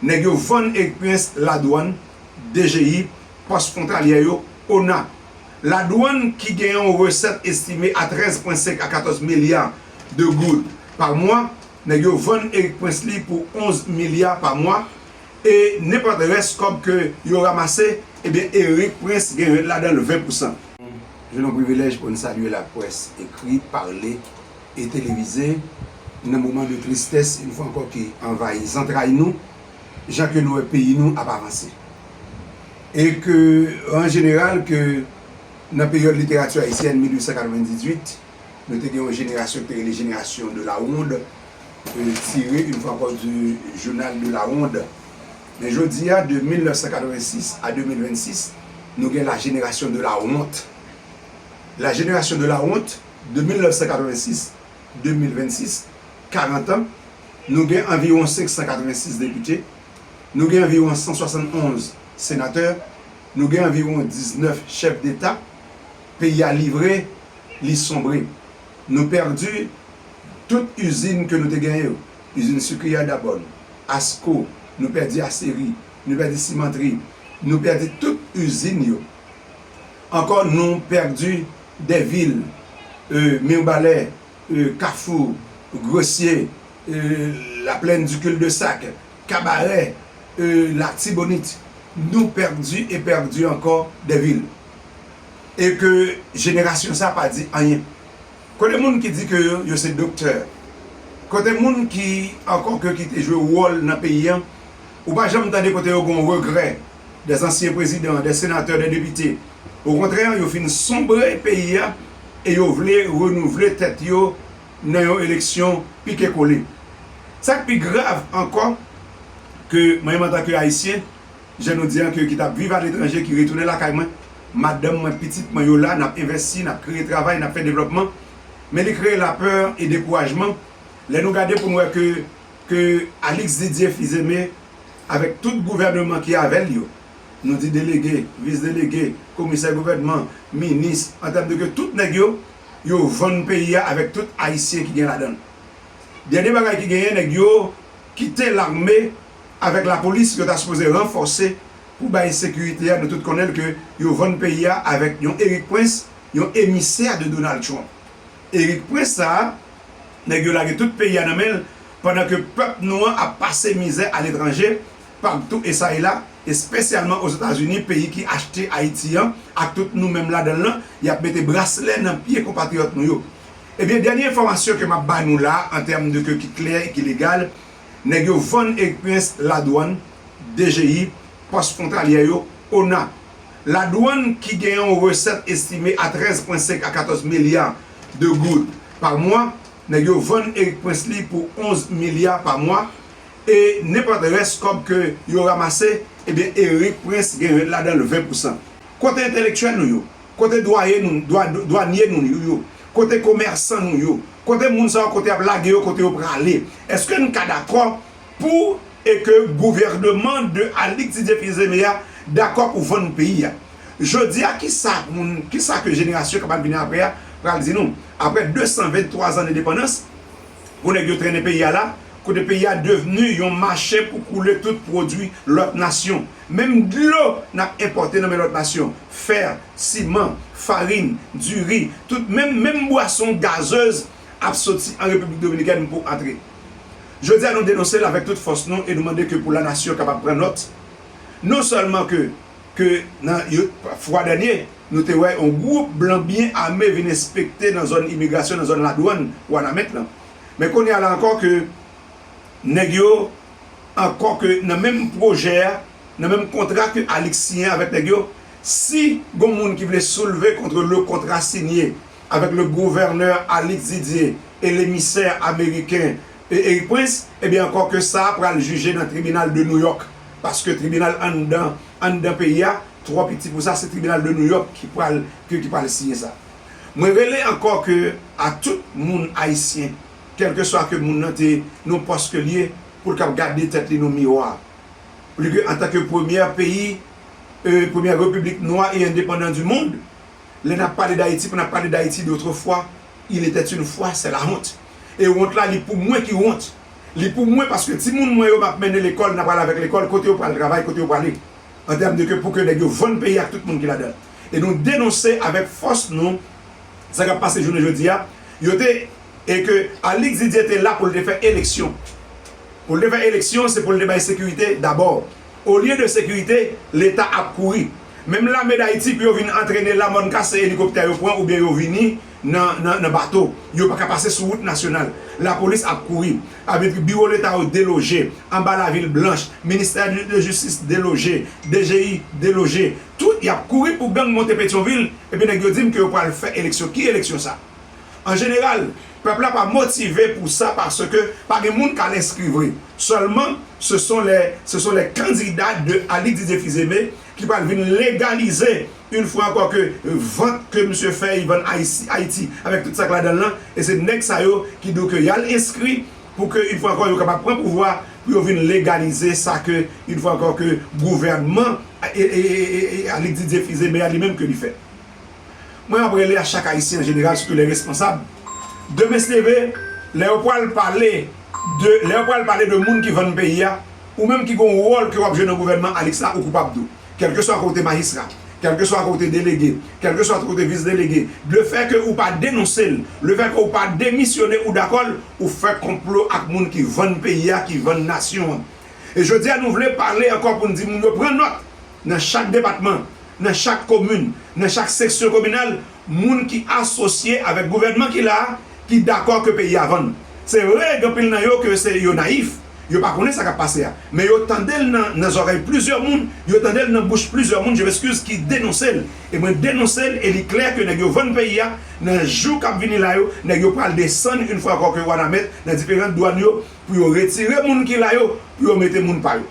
Nèg yo vann ekpryens ladwann, DGI, pòs fwontalyè yo, ona. Ladwann ki gen yon resèt estime a 13 pwen 5 a 14 milya de goud pa mwa, nèg yo vann ekpryens li pou 11 milya pa mwa e nenpòt rès kòb ke yo ramase, ebyen erekpryens gen rèt ladan l 20 pousan. Jwenn yon privilèj pou n salye laprès ekri, pale. e televize nan moman de tristès yon fwa ankò ki anvayi zantray nou jan ke nou wè peyi nou ap avanse e ke an jeneral ke nan peryòd literati ayisyèn 1898 nou te gen yon jenerasyon ki te rele jenerasyon de la ronde tire yon fwa ankò de jounal de la ronde men jodi a de 1986 a 2026 nou gen la jenerasyon de la wont la jenerasyon de la wont. De 1986, 2026, 40 an, nou gen anviwon 586 depite, nou gen anviwon 171 senatè, nou gen anviwon 19 chèf deta, peyi a livre, li sonbre. Nou pèdi tout izin ke nou te genyen yo, izin sikri a Dabòn, Asko, nou pèdi Aseri, nou pèdi Simantri, nou pèdi tout izin yo. Ankò nou pèdi dè vil e Mirbalè e Kafou, Gresye e la plèn di kil de sak, Kabarè e la Tibonit. Nou pèdi e pèdi ankò dè vil. E ke jenerasyon sa pa di anyen. Kote moun ki di ke yo se doktè? Kote moun ki ankò ke ki te jwe wòl nan peyi an? Ou pa janm tande kote yo gon regrè dè zansyen prezidan, dè senatè, dè depite. Okontrè yo fin sonbre peyi a e yo vle renouvle tèt yo nan yon eleksyon pike kole. Sa k pi grav ankò ke mwen menm antan ke Ayisyen, jan nou di an ke ki t ap viv aletranje ki retounen lakay mwen, madanm mwen, pitit mwen yo la, n ap envèsti, n ap kreye travay, n ap fè devlòpman, men li kreye lapè e dekourajman lè nou gade pou nou wè ke ke Alix Didier Fils-Aimé avèk tout gouvèneman ki avè l yo, nou di delege, vis delege, komisè gouvènman, minis, an tèm de ke tout nèg yo, yo vann peyi a avèk tout ayisyen ki gen ladan l. Dènye bagay ki genyen nèg yo kite lame avèk lapolis yo ta sipoze ranfòse pou bay sekirite a, nou tout konnen l ke yo vann peyi a avèk yon Erik Prince, yon emisè de Donald Trump. Eric prince sa a nèg yo lage tout peyi a nan menl pandan ke pèp nou an ap pase mizè aletranje partou esa e la espesyalman ozetazini peyi ki achte ayiti an ak tout nou menm ladanl lan yap mete braslè nan pye konpatriyòt nou yo ebyen dènye enfòmasyon ke map ba nou la an tèm de ke ki klè e ki legal nèg yo vann Eric prince ladwann dgi pòs fwontalyè yo ona. Ladwann ki gen yon resèt estime a 13 pwen 5 a 14 milya de goud pa mwa, nèg yo vann Erik Prince li pou 11 milya pa mwa, e nenpòt rès kòb ke yo ramase, ebyen Erik Prince gen yon ladan l 20 pou san. Kote entelektyèl nou yo? Kote dwaye nou, dwanye nou yo? Kote komèsan nou yo? Kote moun sa yo kote y ap lage yo, kote yo prale? Eske n ka dakò Pou e ke gouvèneman de Alix Didier Fils-Aimé a dakò pou vann peyi a. Jodi a ki sa moun, ki sa ke jenerasyon kap ap vini aprè a pral di nou? Aprè 223 zan endepandans, pou nèg yo trennen peyi a la, kote peyi a devni yon mache pou koule tout pwodui lòt nasyon. Menm dlo nap enpòte nan men lòt nasyon, fè, siman, farin, diri, tout menm menm bwason gazez ap soti an Repiblik Dominikèn pou antre. Jodi a nou denonse l avèk tout fòs nou e nou mande ke pou la nasyon kapab pran nòt non sèlman ke ke nan yo fwa dènye nou te wè yon gwoup blan byen ame vin enspekte nan zòn imigrasyon nan zòn ladwann Wanament lan men kounye a la ankò ke nèg yo ankò ke nan menm pwojè a nan menm kontra ke Alix siyen avèk nèg yo si gon moun ki vle soulve kontre le kontra sinye avèk le gouvènè Alix Didier e le misè ameriken Erik Prince, ebyen ankò ke sa a pral jije nan tribinal de New York, paske tribinal anndan anndan peyi a twò piti pou sa, se tribinal de New York ki pral ke ki pral siyen sa. Mwen rele ankò ke a tout moun ayisyen, kèlkeswa ke moun nan te nan pòs ke li ye, pou l kab gade tèt li nan miwa, pou li ke antanke premyè peyi, e premyè repiblik nwa e endepandan du mond, Lè nap pale dayiti pou nap pale dayiti dotrefwa il etait une fois c'est la honte e wont la li pou mwen ki wont li pou mwen paske timoun mwen yo map mennen lekòl nap al avèk lekòl kote yo pral travay kote yo prale an tèm de ke pou ke nèg yo vann peyi ak tout moun ki ladan l e nou denonse avèk fòs nou sa kap pase jounen jodi a yo te e ke Alix Didier te la pou l te fè eleksyon pou l te fè eleksyon se pou l te bay sekirite dabò. Olye de sekirite, leta ap kouri. Menm lame Dayiti pou yo vin antrene la mòn kase elikoptè yo pran oubyen yo vini nan bato. Yo pa ka pase sou wout nasyonal. Lapolis ap kouri. Abitri biwo leta yo deloje. Anba lavil blanch, ministè de jistis deloje. DGI deloje. Tout y ap kouri pou gang monte Petyonvil epi nèg yo di m ke yo pral fè eleksyon. Ki eleksyon sa? An jeneral, pèp la pa motive pou sa paske pa gen moun k al enskri vre. Sèlman, se son lè se son lè kandida de Alix Didier Fils-Aimé ki pral vin legalize une fwa ankò ke vant ke misye fè y vann Ayisi Ayiti avèk tout sa k ladan l lan e se nèg sa yo ki di w ke y al enskri pou ke une fwa ankò yo kapab pran pouvwa pou yo vin legalize sa ke une fwa ankò ke gouvènman Alix Didier Fils-Aimé a li menm ke li fè. Mwen ap rele a chak ayisyen an jeneral sitou lè responsab demen se leve lè yo pwal pale de lè yo pwal pale de moun ki vann peyi a ou menm ki gon wòl ke wap jwe nan gouvènman alix la ou koupab tou kèlkeswa ke ou te majistra kèlkeswa ke ou te delege kèlkeswa ke ou te vis delege le fè ke ou pa denonse l le fè ke ou pa demisyone ou dakò l ou fè konplo ak moun ki vann peyi a ki vann nasyon an e jodi a nou vle pale ankò poun di moun yo pran nòt nan chak depatman nan chak komin, nan chak seksyon kominal, moun ki asosye avèk gouvènman ki la a, ki dakò ke peyi a vann. Se vre, gen anpil nan yo ke se yo nayif, yo pa konnen sa k ap pase a, men yo tande l nan zòrèy plizyè moun, yo tande l nan bouch plizyè moun, je m'excuse, ki denonse l. E mwen denonse l e li klè ke nèg yo vann peyi a, nan jou k ap vini la yo, nèg yo pral desann une fois encore ke Wanament nan diferant dwàn yo pou yo retire moun ki la yo, pou yo mete moun pa yo.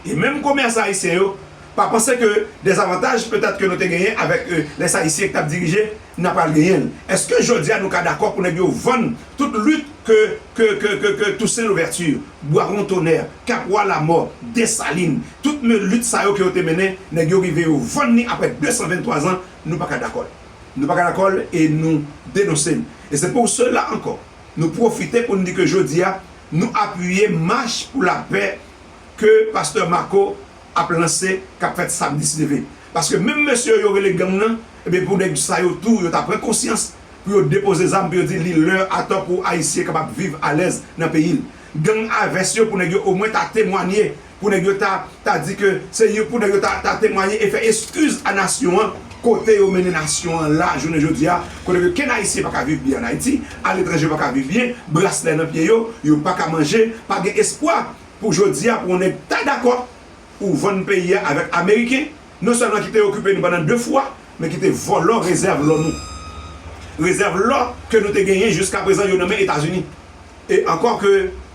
E menm komèsan ayisyen yo, Pa panse ke dezavantaj petèt ke nou te genyen avèk lè Sayisyen ki tap dirije n ap pral genyen l. Eske jodi a nou ka dakò pou nèg yo vann tout lit ke ke ke ke ke Tousen Louvèti, Bwawon Tonè, Kapwa Lamò, Desalin, tout me lit sa yo ke yo te mennen, nèg yo rive yo vann ni aprè 223 zan, nou pa ka dakò l. Nou pa ka dakò l e nou denonse l. E se pou sela ankò nou pwofite pou n di ke jodi a nou apiye mach pou lapè ke Pastè Marco ap lanse kap fèt samdi si Dye vle paske menm mesye yo yo rele gang nan ebyen pou nèg sa yo tou yo ta pran konsyans pou yo depoze zam pou yo di li lè atò pou ayisyen kapab viv alèz nan peyil gang a vès yo pou nèg yo omwen ta temwanye pou nèg yo ta ta di ke se yo pou nèg yo ta ta temwanye e fè eskiz a nasyon an kote yo mennen nasyon an la jounen jodia kote ke kenn ayisyen paka viv byen an ayiti aletranje yo paka viv byen braslè nan pye yo yo paka manje pa gen espwa. Pou jodia pou yon nèg ta dakò ou vann peyi a avèk ameriken non sèlman ki te okipe nou pandan 2 fwa men ki te vòlò rezèv lò nou rezèv lò ke nou te genyen jiska prezan yo nan men etazini e ankò ke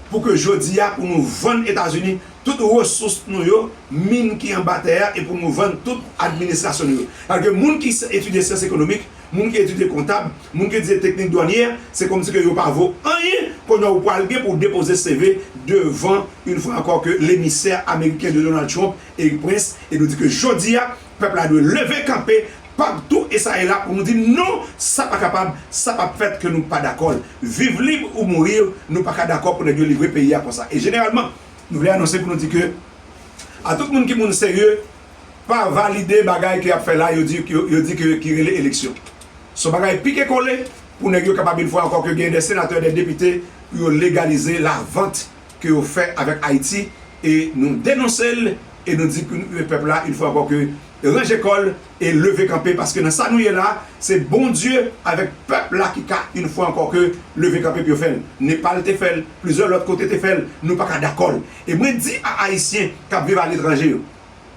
pou ke jodia pou nou vann etazini tout resous nou yo min ki anba tè a e pou nou vann tout administrasyon nou yo paske moun ki etidye syans ekonomik moun ki etidye kontab, moun ki etidye teknik dwanye, se kòmsi ke yo pa vo anyen kounye a ou pral gen pou w depoze CV devan une fois encore que l'émissaire américain de Donald Trump Erik Prince e nou di ke jodi a pèp la dwe leve kanpe partou e sa e la pou nou di non sa pa kapab sa pap fèt ke nou pa dakò l viv lib ou mourir nou paka dakò pou nèg yo livre peyi a konsa e jeneralman nou vle anonse pou nou di ke a tout moun ki moun serye pa valide bagay ke yap fè la yo di yo di ke ki rele eleksyon. Son bagay pike kole pou nèg yo kapab une fwa ankò ke gen de senatè de depite pou yo legalize la vant ke yo fè avèk Ayiti e nou denonse l e nou di pou pèp la une fwa ankò ke ranje kò l e leve kanpe paske nan sa nou ye la se Bondye avèk pèp la ki ka une fwa ankò ke leve kanpe pou yo fè l. Nepal te fè l, plizyè lòt kote te fè l, nou paka dakò l e mwen di a Ayisyen kap viv aletranje yo.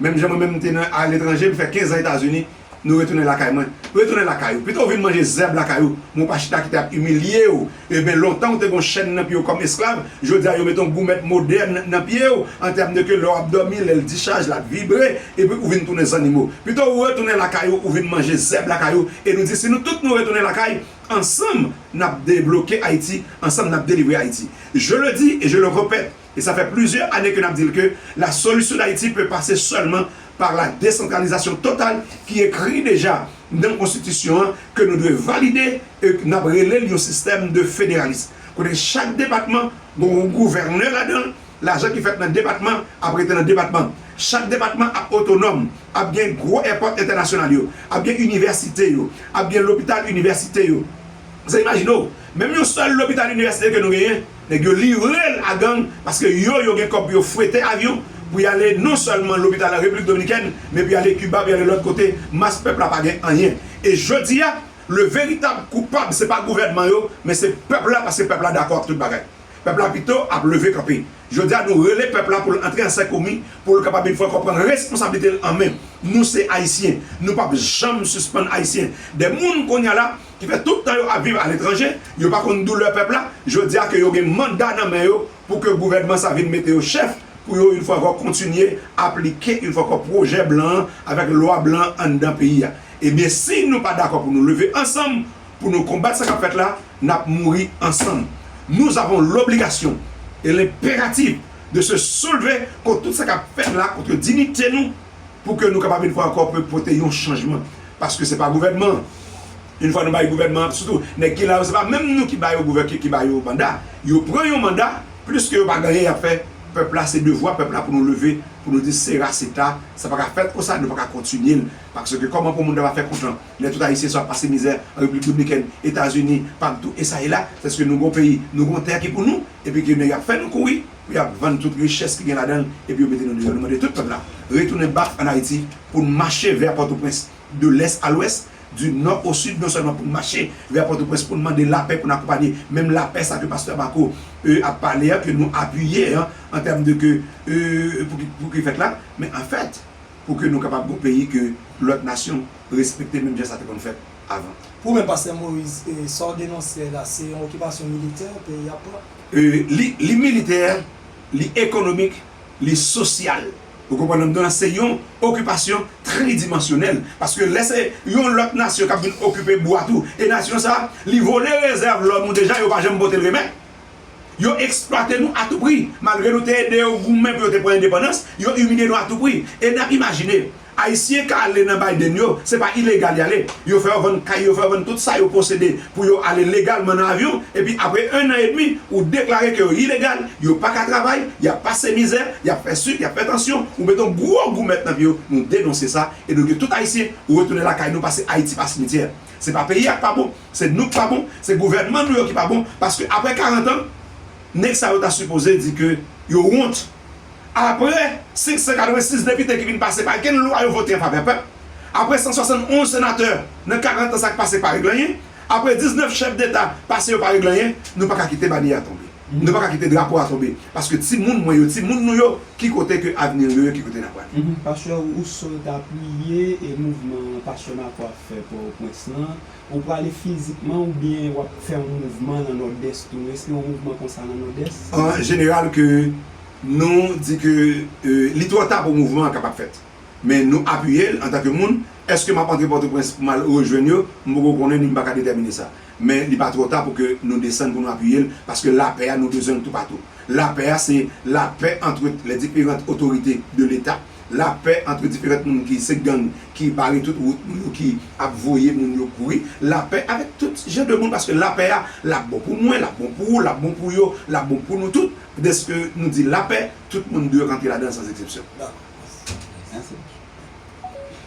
Menm jan mwen menm m te nan aletranje, m fè 15 an Etazini, nou retounen lakay mwen. Retounen lakay ou, pito w vin manje zèb lakay ou, men w pa chita kite ap imilye w. Eben, lontan ou te gen yon chèn nan pye w kòm esklav, jodi a yo mete yon goumèt modèn nan pye w, an tèm de ke lè w ap dòmi, lè l dichaj, l ap vibre, epi ou vin tounen zannimo. Pito ou retounen lakay ou, ou vin manje zèb lakay ou, e nou di si nou tout nou retounen lakay, ansanm n ap debloke Ayiti, ansanm n ap delivre Ayiti. Je le dis et je le repète, E sa fè plizyè ane ke n ap di l ke la solisyon Dayiti pe pase sèlman pa la desantralizasyon total ki ekri deja nan konstitisyon an ke nou dwe valide e n ap rele l yon sistèm de federalis kote chak depatman gon yon gouvènè ladan l, lajan ki fèt nan depatman ap rete nan depatman, chak depatman ap otonòm, ap gen gwo èpòt entènasyonal yo, ap gen inivèsite yo, ap gen lopital inivèsite yo. Sa imajine w, menm yon sèl lopital inivèsite ke nou genyen. Nèg yo livre l a gang paske yo yo gen kòb pou yo fwete avyon pou y ale non sèlman lopital an Repiblik Dominikèn men pou y ale Kiba, pou y ale lòt kote, mas pèp la pa gen anyen. E jodi a, le veritab koupab se pa gouvènman yo men se pèp la paske pèp la dakò ak tout bagay. Pèp la pito ap leve kanpe. Jodi a nou rele pèp la pou l antre an sèkomi pou l kapab yon fwa ankò pran responsablite l an men. Nou se Ayisyen. Nou p ap janm sispann Ayisyen. Dè moun kounye a la. ki fè tout tan yo ap viv aletranje, yo pa konn doulè pèp la, jodi a ke yo gen manda nan men yo pou ke gouvènman sa vin mete yo chèf, pou yo yon fwa ankò kontinye aplike yon fwa ankò pwojè blan an avèk lwa blan an anndan peyi a. Ebyen si nou pa dakò pou nou leve ansanm pou nou konbat sa k ap fèt la, n ap mouri ansanm. Nous avons l'obligation et l'impératif de se soulever kont tout sa k ap fèt la, kontre dinite nou, pou ke nou kapab yon fwa ankò pou pote yon chanjman paske se pa gouvènman an yon fwa nou bay gouvènman an sitou nèg ki la yo se pa menm nou ki ba yo gouvè ki ba yo manda yo pran yon manda pliske yo pa gen anyen y ap fè pèp la se devwa pèp la pou nou leve pou nou di se ra se ta sa pa ka fèt konsa nou pa ka kontinye l paske kòman pou moun ta va fè kontan lè tout ayisyen sa ap pase mizè an repiblik dominikèn etazini pam tou e sa e la sèske nou gon peyi nou gon tè ki pou nou epi ke nèg ap fè nou kouri. pou y ap vann tout richès ki gen ladan l epi yo mete nou deyò. Nou mande tout pèp la retounen bak ann Ayiti pou n mache vè Pòtoprens de lès a lwès, di nò o sid non sèlman pou n mache vè Pòtoprens pou n mande lapè, pou n akonpanye menm lapè sa ke pastè Marco e ap pale an, ke nou apiye an an tèm de ke e pou ki fèt la men an fèt pou ke nou kapab gen yon peyi ke lòt nasyon respekte menm jan sa te konn fèt avan. Pou ou menm pastè Moïse, sa w denonse la se yon okipasyon militè peyi a ap pran? Li militè, li ekonomik, li sosyal. Ou konprann nan dan se yon okipasyon tridimansyonèl. Paske lè se yon lòt nasyon k ap vin okipe bwa tou, e nasyon sa a li vole rezèv lò nou deja, yo pa janm pote l remèt. Yo eksplwate nou atoupri. Malgre nou te ede yo goumen pou yo te pran endepandans, yo imilye nou atoupri. E n ap imajine, Ayisyen ka ale nan Biden yo, se pa ilegal y ale. Yo fè yo vann kay, yo fè yo vann tout sa yo posede pou yo ale legalman nan avyon, epi apre ennan edmi, ou deklare ke yo ilegal, yo pa ka travay, y ap pase mizè, y ap fè sik, y ap fè tansyon, ou mete yon gwo goumèt nan pye yo, nou denonse sa, e nou di tout Ayisyen retounen lakay nou paske Ayiti pa simityè. Se pa peyi a k pa bon, se nou k pa bon, se gouvènman nou yo ki pa bon, paske apre 40 an, nèg sa yo ta sipoze di ke yo wont. Apre 586 depite ki vin pase pa gen lwa yo vote an favè pèp, apre 171 senatè nan 40 an sa k pase pa regle anyen, apre 19 chèf deta pase yo pa regle anyen, nou pa ka kite banye a tonbe, nou pa ka kite drapo a tonbe paske ti moun mwen yo, ti moun nou yo ki kote ke avni yo ye, ki kote n ap prale. Pastè Rousseau ta priye e mouvman Pastè Marco ap fè Pòtoprens lan, ou prale fizikman oubyen w ap fè yon mouvman nan Nòdès tou? Èske yon mouvman konsa nan Nòdès? An jeneral ke. Nou di ke li twò ta pou mouvman an kapab fèt. Men nou apiye l antanke moun. Èske m ap antre Pòtoprens pou m al rejwenn yo? M poko konnen ni m pa ka detèmine sa. Men li pa twò ta pou ke nou desann pou nou apiye l, paske lapè a nou bezwen l toupatou. Lapè a se lapè antre les differentes autorités de l'Etat, lapè antre diferant moun ki se gang ki bare tout wout nou yo, ki ap voye moun yo kouri, lapè avèk tout jan de moun paske lapè a l ap bon pou mwen, l ap bon pou ou, l ap bon pou yo, l ap bon pou nou tout. Dèske nou di lapè, tout moun dwe rantre ladan l san zeksepsyon.